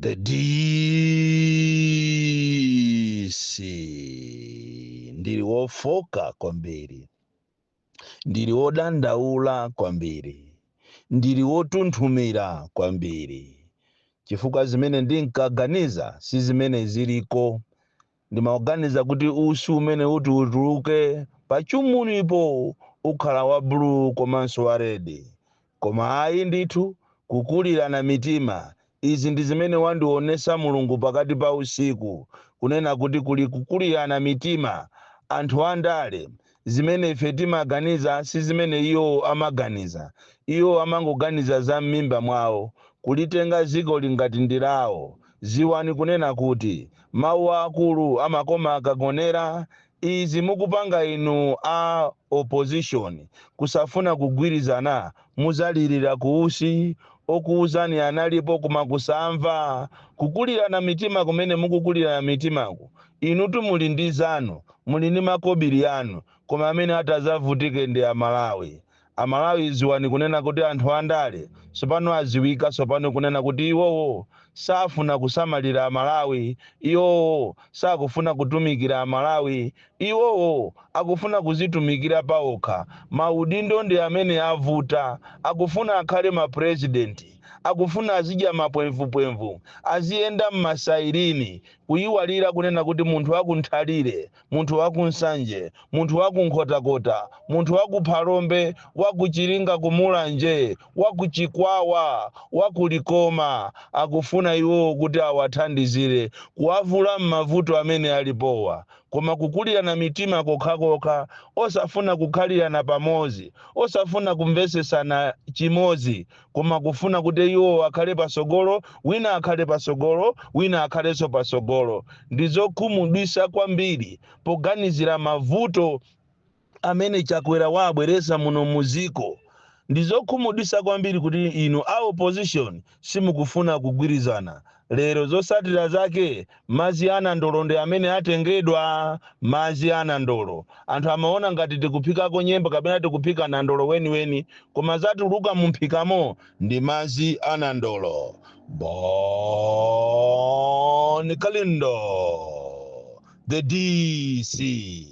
The DC ndili wofoka kwambiri, ndili wodandaula kwambiri, ndili wotunthumira kwambiri, chifukwa zimene ndinkaganiza si zimene ziliko. Ndimaganiza kuti usi umene uti utuluke pa chumunipo ukhala wa blue komanso wa red. Koma ayi ndithu kukulirana mitima izi ndi zimene wandionesa Mulungu pakati pa usiku kunena kuti kuli kukulirana mitima anthu andale Zimene ife timaganiza si zimene iwo amaganiza. Iwo amangoganiza za mmimba mwawo, kulitenga dzikoli ngati ndi lawo. Dziwani kunena kuti, mawu a akulu amakoma akagonera. Izi mukupanga inu a opposition kusafuna kugwirizana muzalirira ku usi. Okuuzani analipo koma kusamva. Kukulirana mitima kumene mukukulirana mitimaku Inutu muli ndi zanu, muli ndi makobili anu, koma amene ati azavutike ndi a Malawi. A Malawi ziwani kunena kuti anthu a ndale sopano aziwika sopano kunena kuti iwowo safuna kusamalira a Malawi, iwowo sakufuna kutumikira a Malawi, iwowo akufuna kuzitumikira pa okha, ma udindo ndi amene avuta, akufuna akhale ma president, akufuna azidya ma pwemvupwemvu, aziyenda m'ma sailini. Kuyiwalira kunena kuti munthu waku Nthalire, munthu waku Nsanje, munthu waku Nkhotakota, munthu waku Phalombe, waku Chiringa ku Mulanje, waku Chikwawa, waku Likoma akufuna iwowo kuti awathandizire kuwavula m'mavuto amene alipowa koma kukulirana mitima kokhakokha osafuna kukhalirana pamodzi, osafuna kumvetsetsana chimodzi Koma kufuna kuti iwo akhale patsogolo, wina akhale patsogolo, wina akhalenso patsogolo, ndi zokhumudwitsa kwambiri poganizira mavuto amene Chakwera waabweretsa muno mu dziko. Ndi zokhumudwitsa kwambiri kuti inu a opposition simukufuna kugwirizana. Lero zotsatira zake madzi a nandolo ndi amene atengedwa. Madzi a nandolo anthu amaona ngati tikuphikako nyemba kapena tikuphika nandolo weniweni koma zatuluka mumphikamo ndi madzi a nandolo. Bon Kalindo, the DC.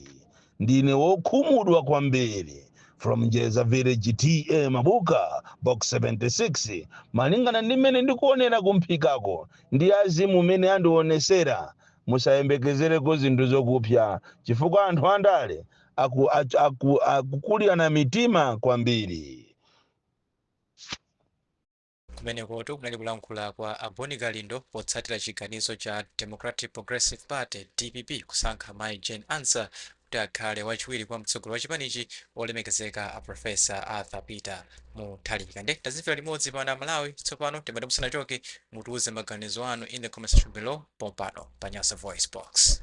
ndine wokhumudwa kwambiri from Njeza Village TA Mabuka Box 76 malingana ndi mmene ndikuonera kumphikako ndi azimu mmene andionesera musayembekezereko zinthu zokupsa chifukwa anthu andale aku, aku, aku, akukulirana mitima kwambiri Kumenekotu kunali kulankhula kwa a Boni Kalindo potsatira chiganizo cha Democratic Progressive Party, dpp, kusankha mayi Jane Ansah kuti akhale wachiwiri kwa mtsogoleri wa chipanichi olemekezeka a Prof. Arthur Peter Mutharika. Nde tazimvera limodzi pano a Malawi, tsopano timati musanachoke mutiuze maganizo anu in the comment section below pompano pa Nyasa Voice Box.